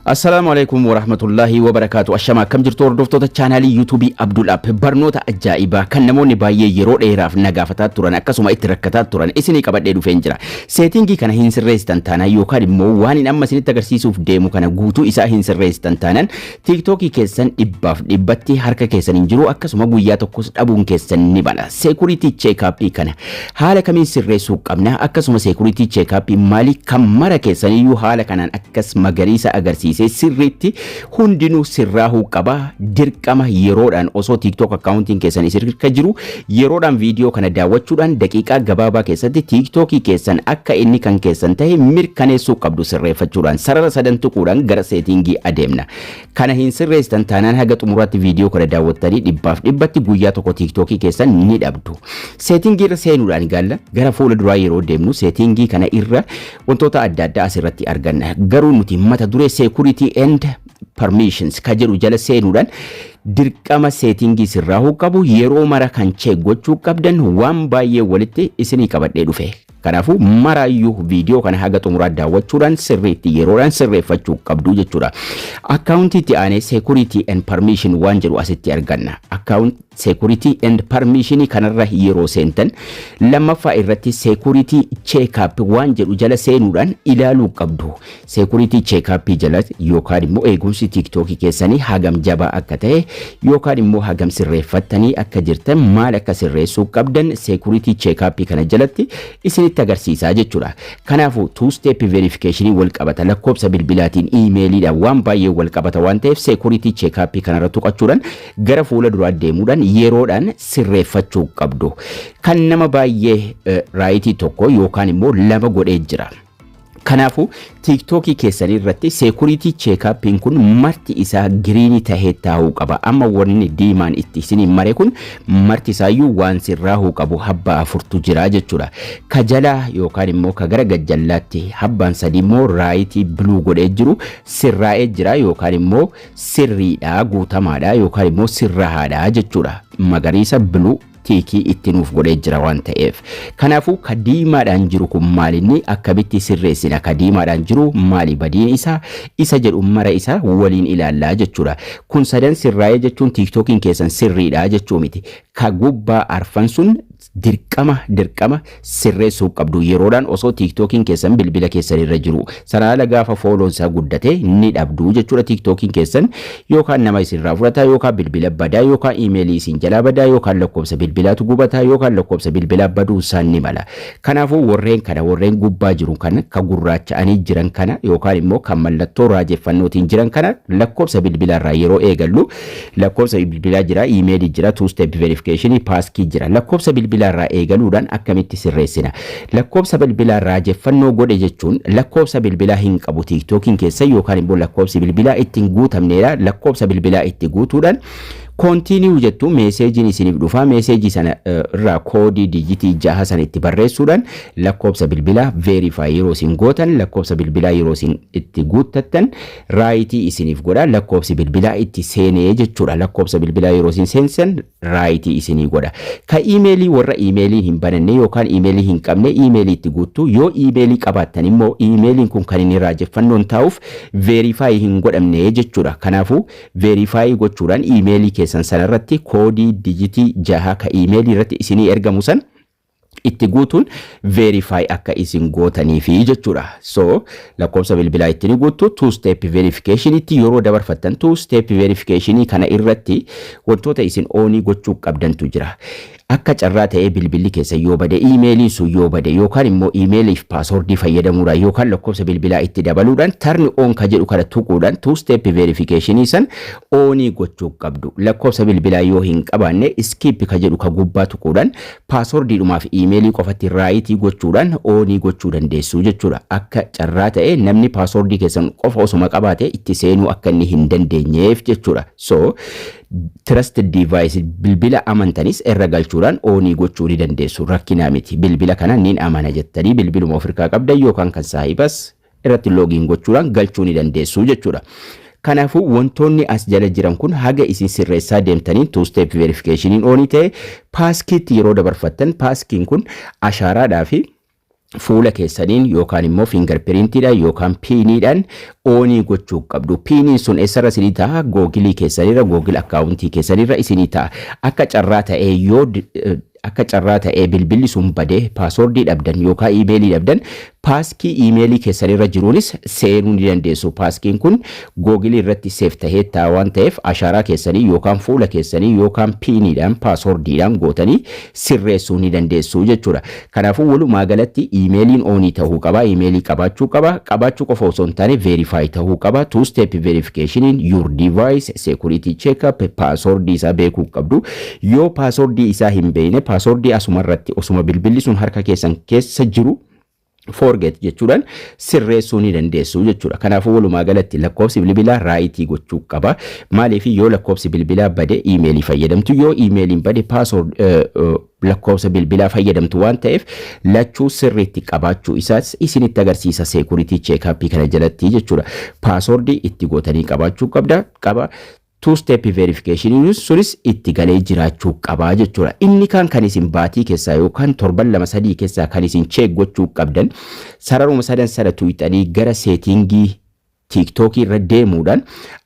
Assalaamu alaikum warahmatullaahi wabarakaatu Ashama akkam jirtu hordoftoota chaanaalii yuutuubii Abdul App barnoota ajaa'ibaa kan namoonni baay'ee yeroo dheeraaf na gaafataa turan akkasuma itti rakkataa turan isinii qabadhee dhufeen jira seetingii kana hin sirreessitan taanaan yookaan immoo waan hin amma isinitti agarsiisuuf deemu kana guutuu isaa hin sirreessitan taanaan tiiktookii keessan dhibbaaf dhibbatti harka keessan hin jiru akkasuma guyyaa tokkos dhabuun keessan ni bala seekuriitii cheekaappii kana Haala kamiin sirreessuu qabna? Akkasuma security check up mali? Kan mara keessaniyyuu haala kanaan akkas magariisa agarsiisee sirriitti hundinuu sirraahuu qaba. Dirqama yeroodhaan osoo TikTok accountiin keessan isin irka jiru yeroodhaan viidiyoo kana daawwachuudhaan daqiiqaa gabaabaa keessatti TikTokii keessan akka inni kan keessan ta'e mirkaneessuu qabdu sirreeffachuudhaan sarara sadan tuquudhaan gara seetiingii adeemna. Kana hin sirreessitan taanaan haga xumuraatti viidiyoo kana daawwattanii dhibbaaf dhibbatti guyyaa tokko tiiktookii keessan ni dhabdu. Seetingii irra seenuudhaan gaalla gara fuula duraa yeroo deemnu seetingii kana irra wantoota adda addaa asirratti arganna. Garuu nuti mata duree security and permissions ka jedhu jala seenuudhaan dirqama seetingii sirraa qabu yeroo mara kan cheek gochuu qabdan waan baay'ee walitti isinii qabadhee dhufe. Kanaafuu maraayyuu viidiyoo kana haga xumuraa daawwachuudhaan sirriitti yeroodhaan sirreeffachuu qabdu jechuudha. Akkaawuntii itti aanee security and permission waan jedhu asitti arganna. Akkaawunt security and permission kanarra yeroo seentan lammaffaa irratti security check up waan jedhu jala seenuudhaan ilaaluu qabdu. Security check-up jala yookaan immoo eegumsi TikTok keessanii hagam jabaa akka ta'e yookaan immoo hagam sirreeffattanii akka jirtan maal akka sirreessuu qabdan security check-up kana jalatti isinitti agarsiisaa jechuudha. Kanaafuu two step verification wal qabata lakkoobsa bilbilaatiin iimeeliidhaan waan baay'ee wal qabata waan ta'eef security check-up kanarra tuqachuudhaan gara fuula duraa deemuudhaan yeroodhaan sirreeffachuu qabdu. Kan nama baay'ee raayitii tokko yookaan immoo lama godhee jira. Kanaafuu tiiktookii keessanii irratti seekuriitii cheekaappiin kun marti isaa giriinii tahee taa'uu qaba. Amma wanni diimaan itti isiniin mare kun marti isaayyuu waan sirraahuu qabu habbaa afurtu jira jechuudha. Ka jalaa yookaan immoo ka gara gajjallaatti habbaan sadii immoo raayitii biluu godhee jiru sirraa'ee jira yookaan immoo sirriidha guutamaadha yookaan immoo sirrahaadha jechuudha. Magariisa biluu tiikii itti nuuf godhee jira waan ta'eef. Kanaafuu ka diimaadhaan jiru kun maalinni akkamitti sirreessina ka diimaadhaan jiru maali badiin isaa isa jedhu mara isaa waliin ilaallaa jechuudha. Kun sadan sirraa'ee jechuun tiiktookiin keessan sirriidha jechuu miti. Ka gubbaa arfan sun dirqama dirqama sirreessuu qabdu yeroodhaan osoo tiiktookiin keessan bilbila keessan irra jiru sanaala gaafa fooloon isaa guddate ni dhabdu jechuudha tiiktookiin keessan yookaan nama isinirraa fudhata yookaan bilbila badaa yookaan iimeelii isin jalaa badaa yookaan lakkoofsa bilbilaatu gubataa yookaan lakkoofsa bilbilaa baduu isaan ni mala kanaafuu warreen kana warreen gubbaa jiru kana ka gurraacha'anii jiran kana yookaan immoo kan mallattoo raajeffannootiin jiran kana lakkoofsa bilbilaarraa yeroo eegallu Lakkoofsa bilbilaa jira, email jira, two step verification, passkey jira. Lakkoofsa bilbilaa irraa eegaluudhaan akkamitti sirreessina? Lakkoofsa bilbilaa raajeffannoo godhe jechuun lakkoofsa bilbilaa hin qabu TikTokin keessan yookaan immoo lakkoofsi bilbilaa itti hin guutamneedha. Lakkoofsa bilbilaa itti guutuudhaan continue jettu meeseejiin isiniif dhufa. Meeseejii sana eh, irraa koodii diijitii jaha sana itti barreessuudhaan lakkoofsa bilbilaa verify yeroo isin gootan lakkoofsa bilbilaa yeroo isin itti guuttattan Raayitii isiniif godha lakkoobsi bilbilaa itti seenee jechuudha lakkoobsa bilbilaa yeroo isin seensan raayitii isinii godha ka iimeelii warra iimeeliin hin bananne yookaan iimeelii hin qabne iimeelii itti guuttu yoo iimeelii qabaattan immoo iimeeliin kun kan inni raajeffannoon taa'uuf veerifaayii hin godhamne jechuudha kanaafuu veerifaayii gochuudhaan iimeelii keessan sanarratti koodii dijitii jaha ka iimeelii irratti isinii ergamu san itti guutuun verify akka isin gootaniifi jechuudha. So lakkoofsa bilbilaa itti ni guuttu two step verification itti yeroo dabarfattan two step verification kana irratti wantoota isin oonii gochuu qabdantu jira. Akka carraa ta'ee bilbilli keessan yoo bade iimeeliin sun yoo bade yookaan immoo iimeeliif paaswordii fayyadamuudhaan yookaan lakkoofsa bilbilaa itti dabaluudhaan turn on ka jedhu kana tuquudhaan two step verification san oonii gochuu qabdu. Lakkoofsa bilbilaa yoo hin qabaanne skip ka jedhu ka gubbaa tuquudhaan Paaswordiidhumaaf iimeelii qofatti raayitii gochuudhaan oonii gochuu dandeessu jechuudha. Akka carraa ta'ee namni paaswordii keessan qofa osoma qabaate itti seenuu akka inni hin dandeenyeef jechuudha. So trusted device bilbila amantanis irra galchuudhaan oonii gochuu ni dandeessu. Rakkinaa miti. Bilbila kana nin amana jettanii bilbiluma ofirkaa qabdan yookaan kan saahibas irratti login gochuudhaan galchuu ni dandeessu jechuudha. Kanaafuu wantoonni as jala jiran kun haga isin sirreessaa deemtaniin two step verification oonii ta'e paaskiitti yeroo dabarfattan paaskiin kun ashaaraadhaa fi fuula keessaniin yookaan immoo fiingar piriintiidhaan yookaan piiniidhaan oonii gochuu qabdu. Piiniin sun eessarra isinii ta'a? Googilii keessanirra, googil akkaawuntii keessanirra isinii ta'a. Akka carraa ta'ee yoo Akka carraa ta'ee bilbilli sun bade, paaswoordii dhabdan yookaa iimeelii dhabdan, paaskii iimeelii keessan irra jiruunis seenuu ni dandeessu. Paaskiin kun Google irratti save ta'ee taa'a waan ta'eef ashaaraa keessanii yookaan fuula keessanii yookaan piiniidhaan, paaswoordiidhaan, gootanii sirreessuu ni dandeessu jechuudha. Kanaafuu walumaa galatti iimeeliin oonii ta'uu qaba, iimeelii qabaachuu qaba, qabaachuu qofa osoo hin taane verify ta'uu qaba, two step verification in your device, security checkup, paaswoordii isaa beekuu qabdu. Yoo paaswordii isaa hin beekne paaswordii asuma irratti osuma bilbilli sun harka keessan keessa jiru forget jechuudhaan sirreessuu ni dandeessu jechuudha. Kanaafuu walumaa galatti lakkoofsi bilbilaa raayitii gochuu qaba. Maaliif yoo lakkoofsi bilbilaa bade iimeelii fayyadamtu yoo iimeeliin bade paasword lakkoofsa bilbilaa fayyadamtu waan ta'eef lachuu sirriitti qabaachuu isaas isinitti agarsiisa seekuritii cheekaappii kana jalatti jechuudha. Paaswordii itti gootanii qabaachuu qabda qaba. Two step verification sunis itti galee jiraachuu qaba jechuudha. Inni kaan kan isin baatii keessaa yookaan torban lama sadii keessaa kan isin check gochuu qabdan sararuma sadan sana tuqxanii gara seetingii tiiktookii irra deemuudhaan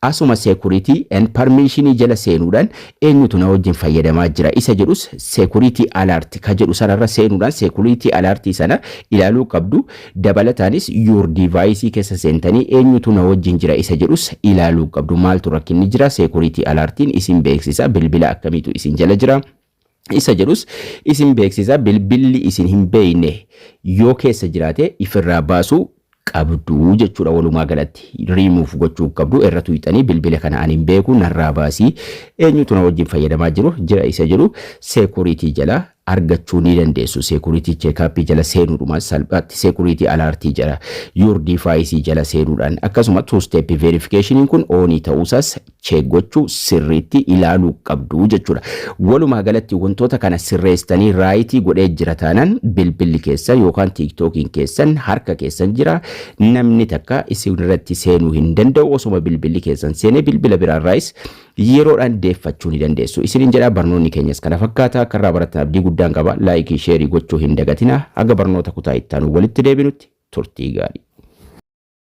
asuma security and permission jala seenuudhaan eenyutu na wajjin fayyadamaa jira isa jedhus security alert ka jedhu sanarra seenuudhaan security alert sana ilaaluu qabdu Dabalataanis your device keessa seentanii eenyutu na wajjin jira isa jedhus ilaaluu qabdu. Maaltu rakkinni jira? Security alert'n isin beeksisa. Bilbila akkamiitu isin jala jira? isa jedhus isin beeksisa. Bilbilli isin hin beekne yoo keessa jiraate ifirraa baasuu qabdu jechuudha walumaa galatti. Remove gochuu qabdu. Irra tuqxanii bilbila kana ani hin beeku narraa baasii eenyutu na wajjin fayyadamaa jiru jira isa jedhu security jala argachuu ni dandeessu. Security Checkup jala seenuudhumaan salphaatti Security Alert jala, Your Device jala seenuudhaan akkasuma Two Step Verification kun on ta'uusaas check gochuu sirriitti ilaaluu qabdu jechuudha. Walumaa galatti wantoota kana sirreessitanii right godhee jira taanaan bilbilli keessan yookaan TikTokiin keessan harka keessan jira. Namni takka isinirratti seenuu hin danda'u. Osoma bilbilli keessan seenee bilbila biraarraayis Yeroodhaan deeffachuu ni dandeessu isiniin jedha. Barnoonni keenyas kana fakkaata. Akka irraa barattan abdii guddaan qaba. Laayikii, sheerii gochuu hin dagatinaa. Haga barnoota kutaa itti aanuun walitti deebinutti turtii gaarii.